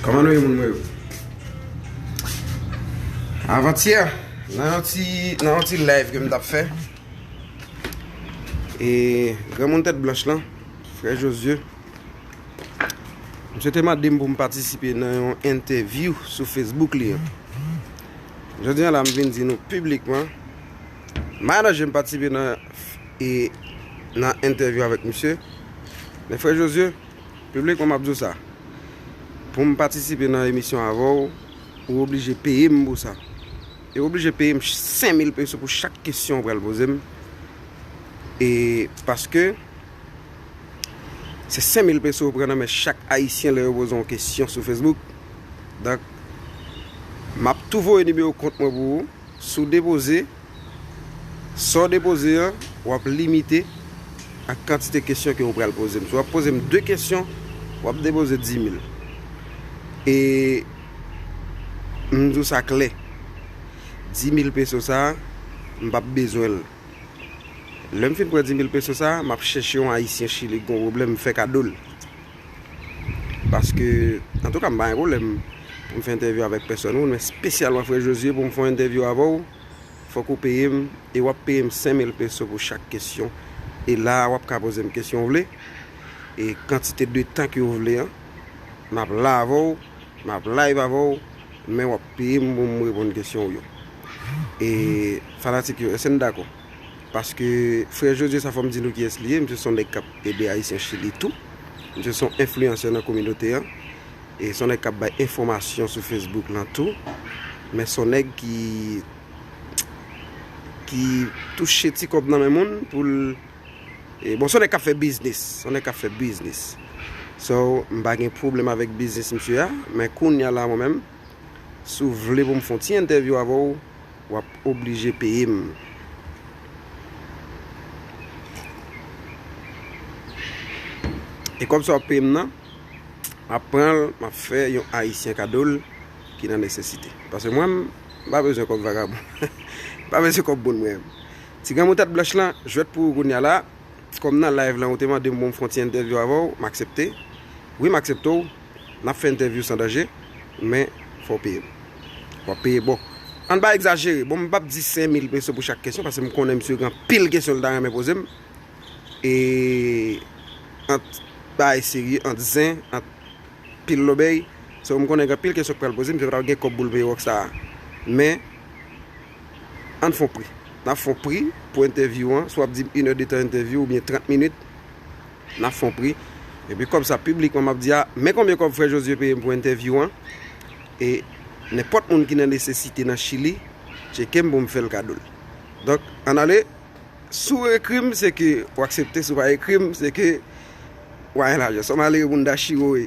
Koman nou ye moun mwen yo? Avantyè, nan yon ti, nan yon ti live ke m tap fè, e granmoun tèt blanch lan, frè Josué, misye te mande m pou m patisipe nan yon entèvyou sou Facebook li an. Jodi an la m vin di nou piblikman, m pa nan je m patisipe nan, e nan entèvyou avèk misye, men frè Josué, Piblik mwen map di w sa, pou m patisipe nan emisyon avè w, ou oblije peye m pou sa. E ou oblije peye m 5000 peso pou chak kesyon ou pral poze m. E paske se 5000 peso ou pran nan men chak ayisyen lè yo poze w yon kesyon sou Facebook. Donk, map tou voye nimewo kont mwen pou ou. Si w depoze, sa w depoze an, w ap limite ak kantite kesyon ke ou pral poze m. Si w ap poze m 2 kesyon, w ap depoze 10000. E m di w sa klè, 10000 peso sa a, m pa p bezwen l. Lè m fin pran 10000 peso sa a, m ap chèche yon Ayisyen Chili ki gen yon pwoblèm, m fè kado l. Paske antouka m pa gen pwoblèm pou m fè entèvyou avèk pèsòn moun men spesyalman frè Josué pou m fè yon entèvyou avè w fòk ou peye m e w ap peye m 5000 peso pou chak kesyon e la a w ap ka poze m kesyon w vle e kantite de tan ke w vle an m ap la avè w m ap live avè w men w ap peye m pou m reponn kesyon w yo e fanatik yo èske n dakò? Paske frè Josué sa fòm di nou kiyès li ye, misye son nèg kap ede ayisyen chili tou. Misye son enfliyansè nan kominote an. E son nèg kap bay enfòmasyon sou Facebook lan tou. Men son nèg ki ki touche ti kòb nan men moun poul e bon son nèg kap fè biznis, son nèg kap fè biznis. So m pa gen pwoblèm avèk biznis misye a, men kounya la mwen menm si w vle pou m fon ti entèvyou avè w, Wap oblije peye m. E kòb sa wap peye m nan, map pran l map fè yon ayisyen kado l ki nan nesesite. Pase mwen m pa bezwen kòb vagabon. M pa bezwen kòb moun mwen. Ti granmoun tèt blanch lan, jwèt pou ou kounya la. Kòm nan live lan ou te mande m pou m fon ti entèvyou avè w, m aksepte. Wi m aksepte w. Nap fè entèvyou san danje men fòw peye m. Wap peye boo. Ann pa egzajere, bon m pap di 5000 peso pou chak kesyon paske m konnen misye gen anpil kesyon li ta renmen poze m e ant bagay serye, ant zen, ant pil lobèy so m konnen gen anpil kesyon ki pral poze m, misye pa tap gen kòb pou l peye Rockstar a men ann fon pri. Nap fon pri pou entèvyou an, swa wap di m 1 è de tan entèvyou oubyen 30 minit. Nan fon pri. Epi kòb sa piblikman map di a, men konbyen kòb frè Josué peyem pou entèvyou an e nenpòt moun ki nan nesesite nan chili tchekem poum fèl kadol. Donk ann ale si w ekrim se ke w aksepte si w pa ekrim se ke w pa gen lajan. Son malere moun dachire w ye.